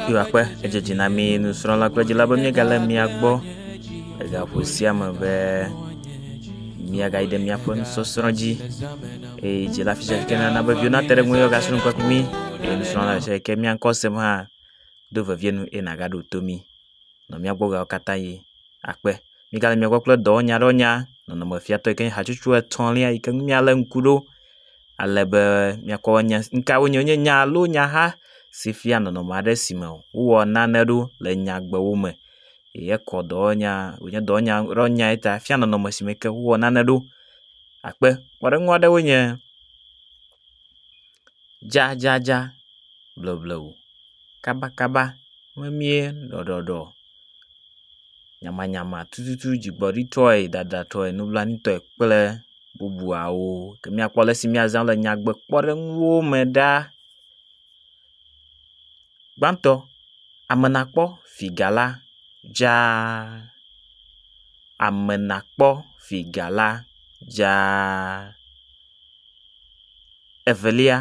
Yehowa kpe edzedzi na mí nusrɔ̃la kple dzila be míegalé mia gbɔ le gaƒo sia me be míagayi ɖe míaƒe nusɔsrɔ̃ dzi eye dzila fi sia ke nana be viwo nate ɖe eŋu eye woagasrɔ̃ nu kple mí eye nusrɔ̃la fi sia ke mía ŋkɔ sem hã do vevie nu eye nàgaɖo to mí. nɔ mía gbɔ ɣeawo katã ɣi. Akpe. Mígale mia gbɔ kple dɔwɔnya ɖe wonya nɔnɔme fiatɔ yike nye hatsotso etɔ̃lia yike ŋu mía le ŋku ɖo ale be mía kpɔ be nukawoe nye nya alo nyaha si fia nɔnɔme aɖe si me wowɔ nane ɖo le nyagbewo me. Ye kɔ dɔwɔnya wonye dɔwɔnya ɖe wonya ye ta efia nɔnɔme si me ke wowɔ nane ɖo. Akpe. Kpɔɖeŋu aɖewoe nye. Dzadzadza, blewblew, kabakaba, memie, ɖɔɖɔɖɔ, nyamanyama, tututu, dzigbɔɖitɔe, dadatɔe, nublanuitɔe kple bubuawo ke míakpɔ ale si míazã le nyagbekpɔɖeŋuwo me ɖa. Gbãtɔ, amenakpɔ figala dzaa, amenakpɔ figala dzaa. Evelia,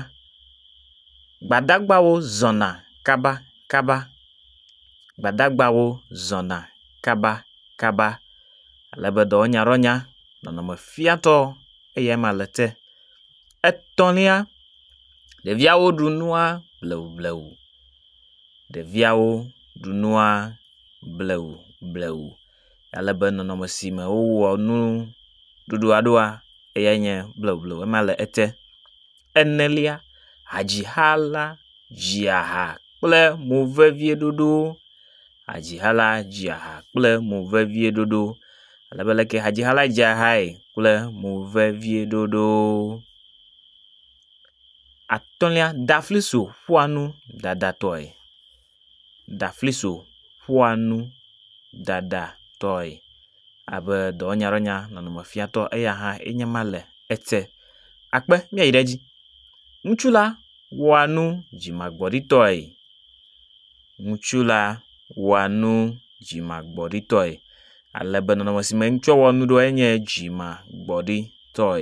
Gbadagbawo zɔna kabakaba, Gbadagbawo zɔna kabakaba, ale be dɔwɔnyaɖɔnya, nɔnɔme fiatɔ eya ma le te. Etɔ̃lia, Ɖeviawo ɖu nua blewublewu, Ɖeviawo ɖu nua blewublewu. ale be nɔnɔme si me wowɔ nuɖuɖua ɖoa eyae nye bleble ema le ete. Enelia, hadzixa la dzia ha kple movevieɖoɖo. Hadzixa la dzia ha kple movevieɖoɖo ale be leke hadzixa la dzea hae kple movevieɖoɖo. Atɔ̃lia, dafliso ƒua nu dadatɔe. ɖafliso ƒoa nu ɖaɖatɔe abe dɔwɔnyadɔwɔnya nɔnɔme fiatɔ eya hã enye ma le ete. Akpe míayi ɖe edzi. Ŋutsu la wɔa nu dzimagbɔɖitɔe. Ŋutsu la wɔa nu dzimagbɔɖitɔe ale be nɔnɔme si me ŋutsua wɔa nu ɖo enye dzimagbɔɖitɔe.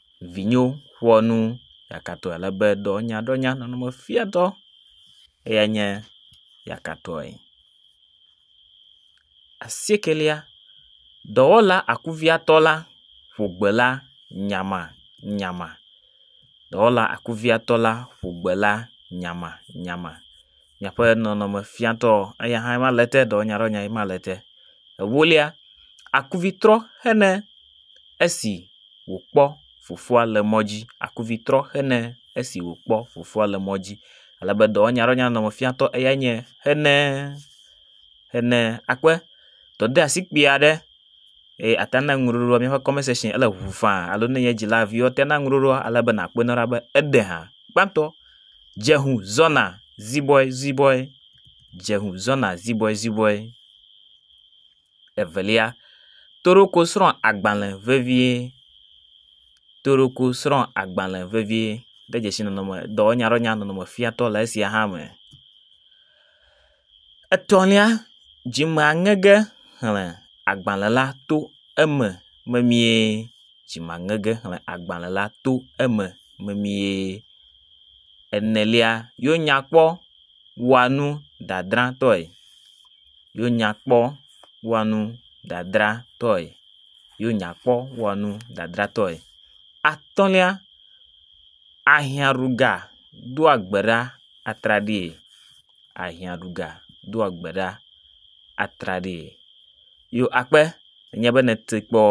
vinyo ƒoa nu yakatɔe ale be dɔnyaɖɔnya nɔnɔme fiatɔ eyae nye yakatɔe. Asiekelia, dɔwɔla akuviatɔ la ƒo gbe la nyamanyama. Dɔwɔla akuviatɔ la ƒo gbe la nyamanyama. miaƒe nɔnɔme fiatɔ eya hã ema le ete ɖe wònya ɖe wònya ema le ete. Ewolia, akuvitrɔ hene esi wòkpɔ fofoa le mɔ dzi, akuvitrɔ hene esi wòkpɔ fofoa le mɔ dzi. Ale be dɔwɔnya ɖe wònya nɔnɔme fiatɔ eyae nye hene, hene akpe dɔdeasi kpui aɖe eye ate ŋu na nuɖuɖu míaƒe comment section ele ŋu faa alo ne enye dzilavi woate ŋu na nuɖuɖua ale be nàkpɔe na wo ɖa be ede ha. Gbãtɔ. Dzeŋu zɔna zibɔɛzibɔɛ, dzeŋu zɔna zibɔɛzibɔɛ. Evelia, toroko srɔ̃a agbalẽ vevie, toroko srɔ̃a agbalẽ vevie. Ɖe dzesi nɔnɔme dɔwɔnya ɖe wònya nɔnɔme fiatɔ le esia hã me. Etɔ̃lia, dzime aŋege xlẽ agbalẽ la to eme memie. Dzime aŋege xlẽ agbalẽ la to eme memie. Enelia, yenya kpɔ wɔa nu dadratɔe, yenya kpɔ wɔa nu dadratɔe, yenya kpɔ wɔa nu dadratɔe. Atɔ̃lia, ahiãɖuga doa gbe ɖa atraɖii. ahiã ɖu ga doa gbe ɖa atraɖii. Yo akpe enye be nète kpɔ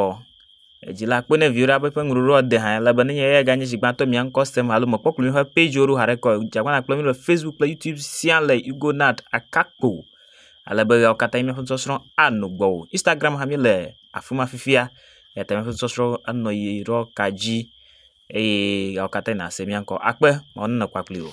edzila akpe ne viwo ɖa be ƒe ŋuɖoɖoa de hã ele be ne nye ya ganye zi gbãtɔ mia ŋkɔ sem alo mekpɔ kpli woƒe pagewo ɖo haɖe kɔ o. Dze agbagba kple mí le Facebook kple Youtube sia le Hugonant Akakpo ale be ɣeawo katã míaƒe nusɔsrɔ̃ anɔ gbɔwò. Instagram hã míele afi ma fifia eyata míaƒe nusɔsrɔ̃ anɔ yi ɖɔ ka dzi eye ɣeawo katã yi nàse mía ŋkɔ. Akpe Mawu nenɔ kpakpli wò.